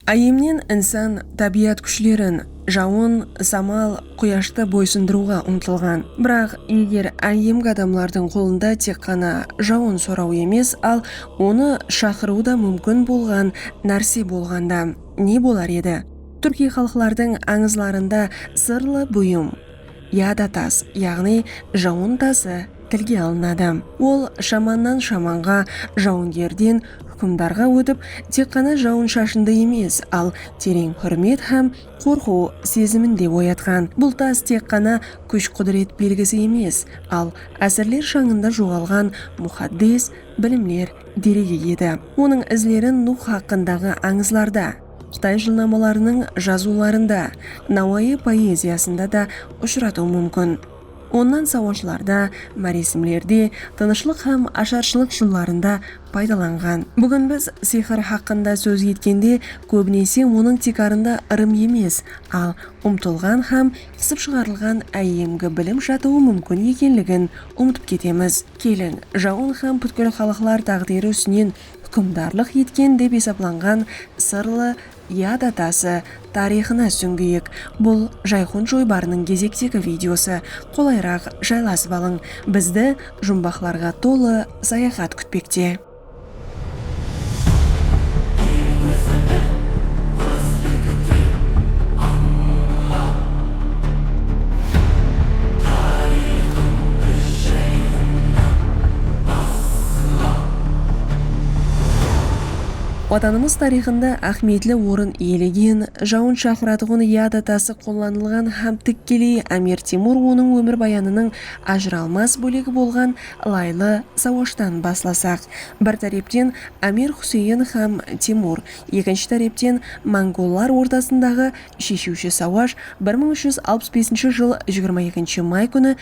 Áyyemnen insan tábiyat kúshlerin, jawın, samal, quyashtı boysındırıwǵa umtılǵan. Biraq, eger áyyemgi adamlardıń qolında tek ǵana jawın soraw emes, al onı shaqırıw da múmkin bolǵan nárse bolǵanda ne bolar edi? Túrkiy xalıqlardıń ańızlarında sırlı buyım. Ya da tas, yaǵnıy jawın tası, tilge alınadı. Ol shamannan shamanǵa, jawıngerden húkimdarǵa ótip, tek ǵana jawın-shashındı emes, al tereń húrmet hám qorqıw sezimin de oyatqan. Bul tas tek ǵana kúsh-qúdiret belgisi emes, al ásirler shańında joǵalǵan muxaddes bilimler deregi edi. Onıń izlerin Nuh haqqındaǵı ańızlarda. Qıtay jılnamalarınıń jazıwlarında, Nawayı poeziyasında da ushıratıw múmkin. Onnan sawashlarda, máresimlerde, tınıshlıq hám asharshılıq jıllarında paydalanǵan. Búgin biz sixir haqqında sóz etkende, kóbinese onıń tiykarında ırım emes, al umtılǵan hám qısıp shıǵarılǵan áyyemgi bilim jatıwı múmkin ekenligin umıtıp ketemiz. Keliń, jawın hám pútkil xalıqlar táǵdiri ústinen húkimdarlıq etken dep esaplanǵan sırlı Yad atası tariyxına súńgiyik. Bul Jayxun joybarınıń gezektegi videosı. Qolayraq jaylasıp alıń. Bizdi jumbaqlarǵa tolı sayaxat kútpekte. Watanımız tariyxında áhmiyetli orın iyelegen, jawın shaqıratuǵın yada tası qollanılǵan hám tikkeley Ámir Temur onıń ómirbayanınıń ajıralmas bólegi bolǵan Laylı Sawashtan baslasaq, bir tárepten Ámir Huseyin hám Temur, ekinshi tárepten mongollar ortasındaǵı Sheshiwshi sawash bir mıń úsh júz alpıs besinshi jıl jigirma ekinshi may kúni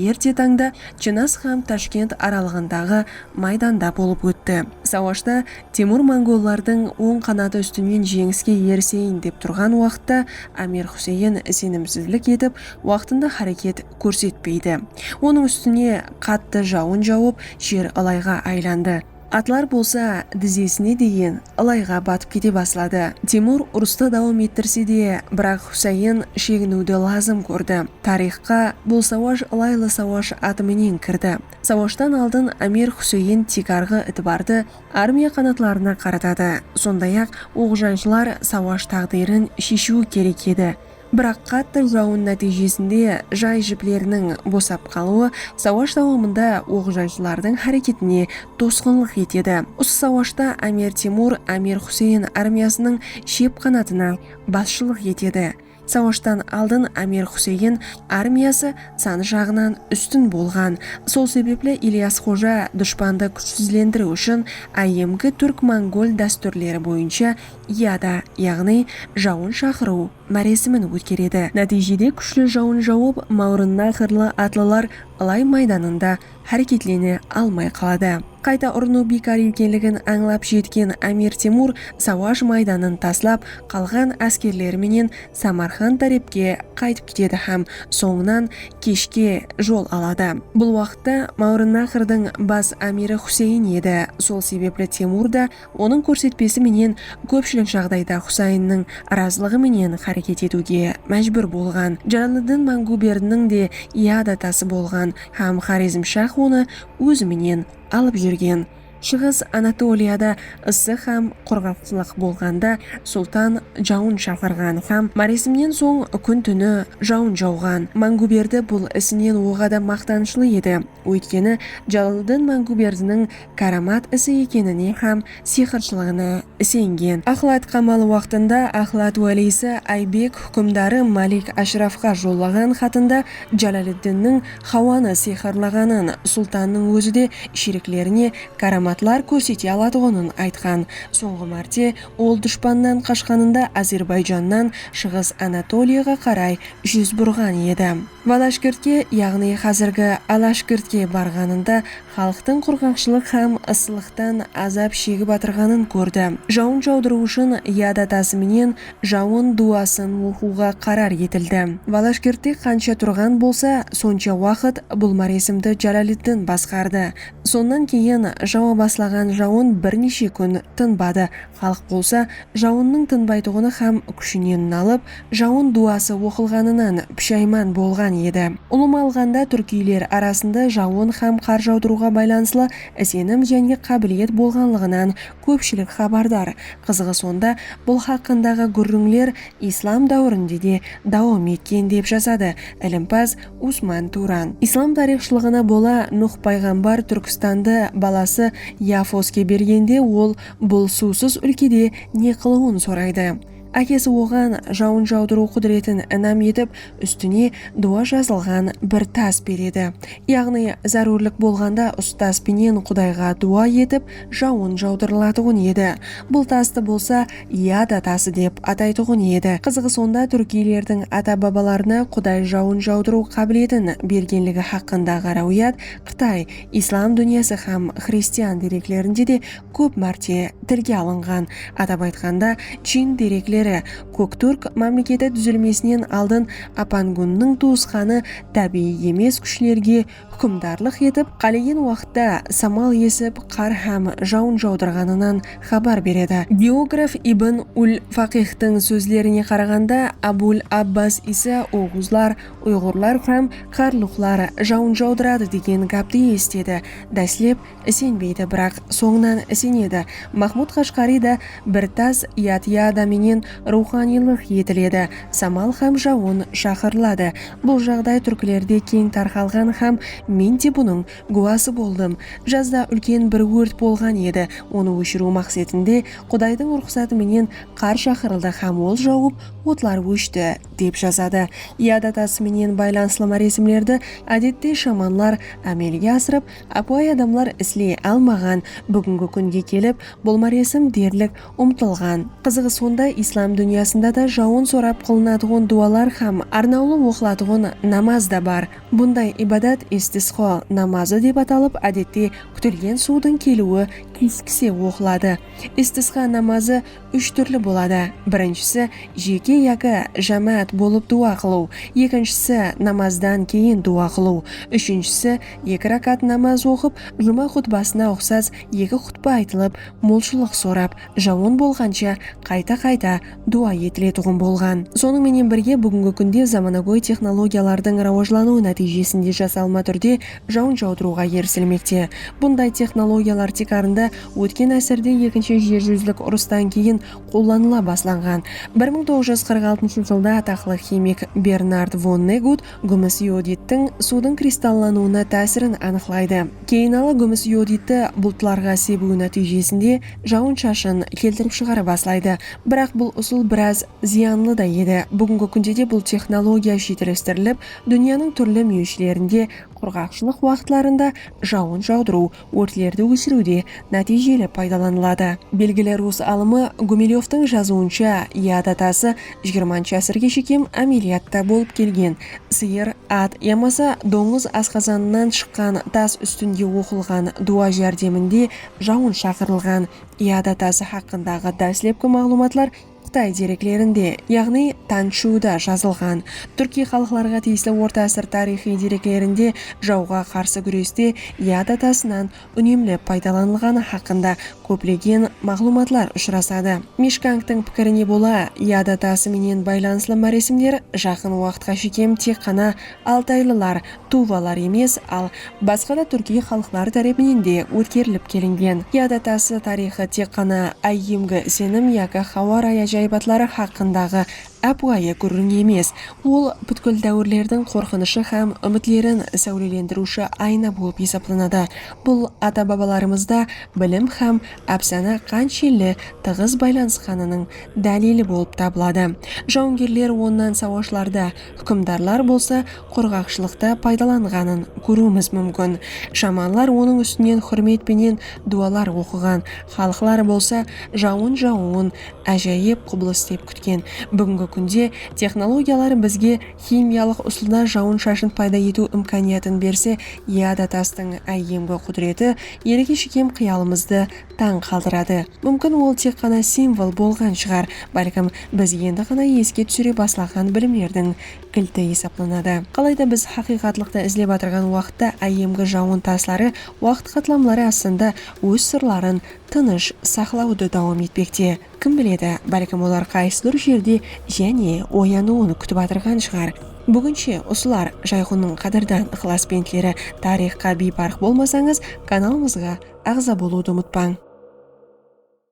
erte tańda Chinaz hám Tashkent aralıǵındaǵı maydanda bolıp ótti. Sawashta Temur mongollardıń oń qanatı ústinen jeńiske eriseyin dep turǵan waqıtta Ámir Huseyin isenimsizlik etip waqtında háreket kórsetpeydi. Onıń ústine qattı jawın jawıp jer ılayǵa aylandı. Atlar bolsa dizesine deyin ılayǵa batıp kete basladı. Temur urıstı dawam ettirse de, biraq Husayin sheginiwdi lazım kórdi. Tariyxqa bul sawash ılaylı sawash atı menen kirdi. Sawashtan aldın Amir Husayin tiykarǵı itibardı armiya qanatlarına qaratadı. Sonday-aq, oǵjanshılar sawash táǵdiyrin sheshiwi kerek edi. Biraq qattı jawın nátiyjesinde jay jipleriniń bosap qalıwı sawash dawamında oq-jayshılardıń háreketine tosqınlıq etedi. Usı sawashta Ámir Temur Ámir Huseyin armiyasınıń shep qanatına basshılıq etedi. Sawashtan aldın Ámir Huseyin armiyası sanı jaǵınan ústin bolǵan. Sol sebepli Ilyas Xoja dushpandı kúshsizlendiriw ushın áyyemgi túrk-mongol dástúrleri boyınsha Iyada, yaǵnıy jawın shaqırıw, máresimin ótkeredi. Nátiyjede kúshli jawın jawıp, Mawrınna qırlı atlılar ılay maydanında háreketlene almay qaladı. Qayta urınıw biykar ekenligin ańlap jetken Ámir Temur sawash maydanın taslap, qalǵan áskerleri menen Samarqand tárepke qaytıp ketedi hám sońınan keshke jol aladı. Bul waqıtta Mawrınna qırdıń bas ámiri Xuseyin edi, sol sebepli Temur da Onıń kórsetpesi menen kópshilik jaǵdayda Xusaynnıń razılıǵı menen háreket etiwge májbúr bolǵan Jalaliddin Mangúberiniń de yad atası bolǵan hám Xorezmshah onı ózi menen alıp júrgen. Shıǵıs Anatoliyada ısı hám qurǵaqshılıq bolǵanda sultan jawın shaqırǵan hám máresimnen soń kún-túni jawın jawǵan. Mangúberdi bul isinen oǵada maqtanıshlı edi. Óytkeni, Jalaliddin Máńgúberdiniń káramat isi ekenine hám siyxırshılıǵına isengen. Axlat qamalı waqtında Axlat wáliysi Aybek húkimdarı Malik Ashrafqa jollaǵan xatında Jalaliddinniń Xawanı siyxırlaǵanın, sultannıń ózi de sheriklerine káramatlar kórsete alatuǵının aytqan. Sońǵı márte ol dushpannan qashqanında Ázerbayjannan Shıǵıs Anatoliyaǵa qaray júz burǵan edi. Valashgirtke, yaǵnıy házirgi Alashgirtke barǵanında xalıqtıń qurǵaqshılıq hám ıssılıqtan azap shegip atırǵanın kórdi. Jawın jawdırıw ushın yad atası menen jawın duwasın oqıwǵa qarar etildi. Valashgirtte qansha turǵan bolsa, sonsha waqıt bul máresimdi Jalaliddin basqardı. Sonnan keyin jawa baslaǵan jawın bir neshe kún tınbadı, Xalıq bolsa jawınnıń tınbaytuǵını xám kúshinen nalıp, jawın duwası oqılǵanınan púshayman bolǵan edi. Ulıwma alǵanda, túrkiyler arasında jawın xám qar jawdırıwǵa baylanıslı isenim jáne qábiliyet bolǵanlıǵınan kópshilik xabardar. Qızıǵı sonda, bul haqqındaǵı gúrrińler islam dáwirinde de dawam etken, dep jazadı ilimpaz Usman Turan. Islam tariyxshılıǵına bola, Nuh payǵambar Túrkistandı balası Yafoske bergende, ol Bul suwsız úlkede ne qılıwın soraydı. Ákesi oǵan jawın jawdırıw qúdiretin inam etip, ústine duwa jazılǵan bir tas beredi. Yaǵnıy, zárúrlik bolǵanda ustaz penen qudayǵa duwa etip, jawın jawdırılatuǵın edi. Bul tastı bolsa Yada tası dep ataytuǵın edi. Qızıǵı sonda túrkiylerdiń ata-babalarına quday jawın jawdırıw qábiletin bergenligi haqqındaǵı ráwiyat Qıtay, Islam dúnyası hám xristian dereklerinde de kóp márte tilge alınǵan, atap aytqanda, Chin derekleri, Kók túrk mámleketi dúzilmesinen aldın Apangunniń tuwısqanı tábiyiy emes kúshlerge húkimdarlıq etip, qálegen waqıtta samal esip, qar hám jawın jawdırǵanınan xabar beredi. Geograf Ibn ul-Faqihtıń sózlerine qaraǵanda, Abul-Abbas Iysa oǵuzlar, Uyǵurlar hám qarluqlar jawın jawdıradı degen gápti esitedi. Dáslep isenbeydi, biraq sońınan isenedi. Mahmud Qashqariy da bir tas yadıyada menen ruwxaniylıq etiledi, samal hám jawın shaqırıladı. Bul jaǵday túrklerde keń tarqalǵan hám men de bunıń gúwası boldım. Jazda úlken bir órt bolǵan edi, onı óshiriw maqsetinde Qudaydıń ruxsatı menen qar shaqırıldı hám ol jawıp otlar óshti. dep jazadı. Yad atası menen baylanıslı máresimlerdi ádette shamanlar ámelge asırıp, ápiwayı adamlar isley almaǵan. Búgingi kúnge kelip, bul máresim derlik umtılǵan. Qızıǵı sonda, islam dúnyasında da jawın sorap qılınatuǵın duwalar hám arnawlı oqılatuǵın namaz da bar. Bunday ibadat istisqo namazı dep atalıp, ádette kútilgen suwdıń keliwi keskise oqıladı. Istisqa namazı úsh túrli boladı, birinshisi, jeke yaki jámáát bolıp duwa qılıw, ekinshisi, namazdan keyin duwa qılıw, úshinshisi, eki rákát namaz oqıp, juma xutbasına uqsas eki xutba aytılıp, molshılıq sorap, jawın bolǵansha qayta-qayta duwa etiletuǵın bolǵan. Sonıń menen birge, búgingi kúnde zamanagóy texnologiyalardıń rawajlanıwı nátiyjesinde jasalma túrde jawın jawdırıwǵa erisilmekte. Bunday texnologiyalar tiykarında Ótken ásirde Ekinshi jer júzlik urıstan keyin qollanıla baslanǵan. Bir mıń toǵız júz qırq altınshı jılda ataqlı ximik Bernard Vonnegut gúmis iodidtiń suwdıń kristallanıwına tásirin anıqlaydı. Keyinalı gúmis ioditti bultlarǵa sebiwi nátiyjesinde jawın-shashın keltirip shıǵara baslaydı. Biraq bul usıl biraz zıyanlı da edi. Búgingi kúnde de bul texnologiya shiytelestirilip, dúnyanıń túrli múyeshlerinde qurǵaqshılıq waqıtlarında jawın jawdırıw Órtlerdi óshiriwde nátiyjeli paydalanıladı. Belgili rus alımı Gumelevtıń jazıwınsha, Yad atası jigirmanshı ásirge shekem ámeliyatta bolıp kelgen, sıyır, at yamasa dońız asqazanınan shıqqan tas ústinde oqılǵan duwa járdeminde jawın shaqırılǵan Yad atası haqqındaǵı dáslepki maǵlıwmatlar Qıtay dereklerinde, yaǵnıy Tan Shuda jazılǵan, túrkiy xalıqlarǵa tiyisli orta ásir tariyxıy dereklerinde jawǵa qarsı gúreste yada tasınan únemli paydalanılǵanı haqqında kóplegen maǵlıwmatlar ushırasadı. Mishkangtıń pikirine bola, yada tası menen baylanıslı máresimler jaqın waqıtqa shekem tek ǵana Altaylılar, tuvalar emes, al basqa da túrkiy xalıqlar tárepinen de ótkerilip kelingen. Yada tası tariyxı tek ǵana áyyemgi isenim yaki xawa rayı ájayıbatları xaqqındaǵı ápiwayı gúrriń emes, ol pútkil dáwirlerdiń qorqınıshı hám úmitlerin sáwlelendiriwshi ayna bolıp esaplanadı. Bul ata-babalarımızda bilim hám ápsana qanshelli tıǵız baylanısqanınıń dálili bolıp tabıladı. Jawıngerler onnan sawashlarda, Húkimdarlar bolsa qurǵaqshılıqtı paydalanǵanın kóriwimiz múmkin. Shamanlar onıń ústinen húrmet penen duwalar oqıǵan, xalıqlar bolsa jawın jawıwın ájayıp qubılıs dep kútken. Búgingi kúnde texnologiyalar bizge ximiyalıq usılda jawın-shashın payda etiw imkaniyatın berse, yada tastıń áyyemgi qúdireti elge shekem qıyalımızdı tań qaldıradı. Múmkin ol tek ǵana simvol bolǵan shıǵar, bálkim biz endi ǵana eske túsire baslaǵan bilimlerdiń kilti esaplanadı. Qalayda biz haqıyqatlıqtı izlep atırǵan waqıtta áyyemgi jawın tasları waqıt qatlamları astında óz sırların tınısh saqlawdı dawam etpekte. Kim biledi, bálkim olar qaysıdur jerde jáne oyanıwın kútip atırǵan shıǵar. Búginshe usılar Jayxunnıń qádirdan ıqlasbentleri Tariyxqa biyparıq bolmasańız kanalımızǵa aǵza bolıwdı umıtpań.